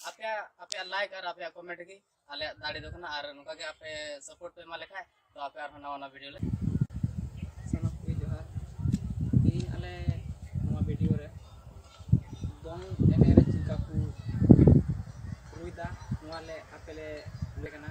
ᱟᱯᱮ ᱟᱯᱮ ᱞᱟᱭᱤᱠ ᱟᱨ ᱟᱯᱮ ᱠᱚᱢᱮᱱᱴ ᱜᱮ ᱟᱞᱮ ᱫᱟᱲᱮ ᱫᱚ ᱠᱟᱱᱟ ᱟᱨ ᱱᱚᱝᱠᱟ ᱜᱮ ᱟᱯᱮ ᱥᱟᱯᱳᱨᱴ ᱯᱮ ᱮᱢᱟ ᱞᱮᱠᱷᱟᱡ ᱛᱚ ᱟᱯᱮ ᱟᱨᱦᱚᱸ ᱱᱟᱣᱟ ᱱᱟᱣᱟ ᱵᱷᱤᱰᱤᱭᱳ ᱞᱮ ᱥᱟᱱᱟᱢ ᱠᱚ ᱡᱚᱦᱟᱨ ᱛᱮᱦᱮᱧ ᱟᱞᱮ ᱱᱚᱣᱟ ᱵᱷᱤᱰᱤᱭᱳ ᱨᱮ ᱫᱚᱝ ᱮᱱᱮᱡ ᱨᱮ ᱪᱮᱫᱠᱟ ᱠᱚ ᱨᱩᱭᱫᱟ ᱱᱚᱣᱟ ᱞᱮ ᱟᱯᱮ ᱞᱮ ᱞᱟᱹᱭ ᱠᱟᱱᱟ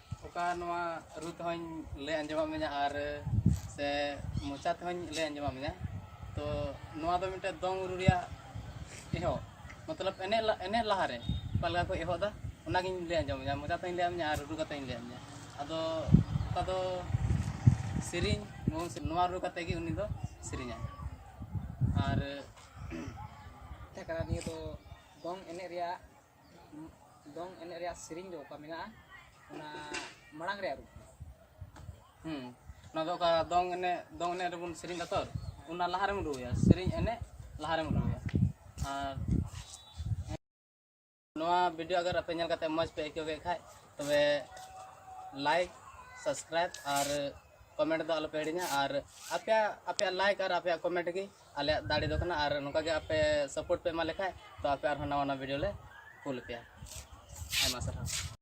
ᱚᱠᱟ ᱱᱚᱣᱟ ᱨᱩ ᱛᱮᱦᱚᱧ ᱞᱟᱹᱭ ᱟᱸᱡᱚᱢᱟᱫ ᱢᱮᱭᱟ ᱟᱨ ᱥᱮ ᱢᱚᱪᱟ ᱛᱮᱦᱚᱧ ᱞᱟᱹᱭ ᱟᱸᱡᱚᱢᱟᱫ ᱢᱮᱭᱟ ᱛᱚ ᱱᱚᱣᱟ ᱫᱚ ᱢᱤᱫᱴᱮᱡ ᱫᱚᱝ ᱨᱩ ᱨᱮᱭᱟᱜ ᱮᱦᱚᱵ ᱢᱚᱛᱞᱚᱵ ᱮᱱᱮᱡ ᱮᱱᱮᱡ ᱞᱟᱦᱟᱨᱮ ᱚᱠᱟ ᱞᱮᱠᱟ ᱠᱚ ᱮᱦᱚᱵ ᱫᱟ ᱚᱱᱟᱜᱤᱧ ᱞᱟᱹᱭ ᱟᱸᱡᱚᱢ ᱢᱮᱭᱟ ᱢᱚᱪᱟ ᱛᱮᱦᱚᱧ ᱞᱟᱹᱭᱟᱫ ᱢᱮᱭᱟ ᱟᱨ ᱨᱩ ᱠᱟᱛᱮᱧ ᱞᱟᱹᱭᱟᱫ ᱢᱮᱭᱟ ᱟᱫᱚ ᱚᱠᱟ ᱫᱚ ᱥᱮᱨᱮᱧ ᱱᱚᱣᱟ ᱨᱩ ᱠᱟᱛᱮ ᱜᱮ ᱩᱱᱤ ᱫᱚ ᱥᱮᱨᱮᱧᱟ ᱟᱨ ᱛᱟᱦᱮᱸ ᱠᱟᱱᱟ ᱱᱤᱭᱟᱹ ᱫᱚ ᱫᱚᱝ ᱮᱱᱮᱡ ᱨᱮᱭᱟᱜ ᱫᱚᱝ ᱮᱱᱮᱡ ᱨᱮᱭᱟᱜ ᱥᱮᱨᱮᱧ ᱫᱚ ᱚᱠᱟ ᱢᱮᱱᱟᱜᱼᱟ ᱚᱱᱟ ᱢᱟᱲᱟᱝ ᱨᱮᱭᱟᱜ ᱨᱩᱯ ᱦᱩᱸ ᱚᱱᱟ ᱫᱚ ᱚᱠᱟ ᱫᱚᱝ ᱮᱱᱮᱡ ᱫᱚᱝ ᱮᱱᱮᱡ ᱨᱮᱵᱚᱱ ᱥᱮᱨᱮᱧ ᱫᱟ ᱛᱚ ᱚᱱᱟ ᱞᱟᱦᱟ ᱨᱮᱢ ᱨᱩᱭᱟ ᱥᱮᱨᱮᱧ ᱮᱱᱮᱡ ᱞᱟᱦᱟ ᱨᱮᱢ ᱨᱩᱭᱟ ᱟᱨ ᱱᱚᱣᱟ ᱵᱷᱤᱰᱤᱭᱳ ᱟᱜᱟᱨ ᱟᱯᱮ ᱧᱮᱞ ᱠᱟᱛᱮ ᱢᱚᱡᱽ ᱯᱮ ᱟᱹᱭᱠᱟᱹᱣ ᱠᱮᱫ ᱠᱷᱟᱡ ᱛᱚᱵᱮ ᱞᱟᱭᱤᱠ ᱥᱟᱵᱥᱠᱨᱟᱭᱤᱵ ᱟᱨ ᱠᱚᱢᱮᱱᱴ ᱫᱚ ᱟᱞᱚᱯᱮ ᱦᱤᱲᱤᱧᱟ ᱟᱨ ᱟᱯᱮᱭᱟᱜ ᱟᱯᱮᱭᱟᱜ ᱞᱟᱭᱤᱠ ᱟᱨ ᱟᱯᱮᱭᱟᱜ ᱠᱚᱢᱮᱱᱴ ᱜᱮ ᱟᱞᱮᱭᱟᱜ ᱫᱟᱲᱮ ᱫᱚ ᱠᱟᱱᱟ ᱟᱨ ᱱᱚᱝᱠᱟ ᱜᱮ ᱟᱯᱮ ᱥᱟᱯᱳᱨᱴ ᱯᱮ ᱮᱢᱟ ᱞᱮᱠᱷᱟᱡ ᱛᱚ ᱟᱯᱮ ᱟᱨᱦᱚᱸ ᱱᱟᱣᱟ ᱱᱟᱣᱟ ᱵᱷᱤᱰᱤᱭᱳ ᱞᱮ ᱠᱩᱞ ᱟᱯᱮᱭᱟ ᱟᱭᱢᱟ ᱥᱟᱨᱦᱟᱣ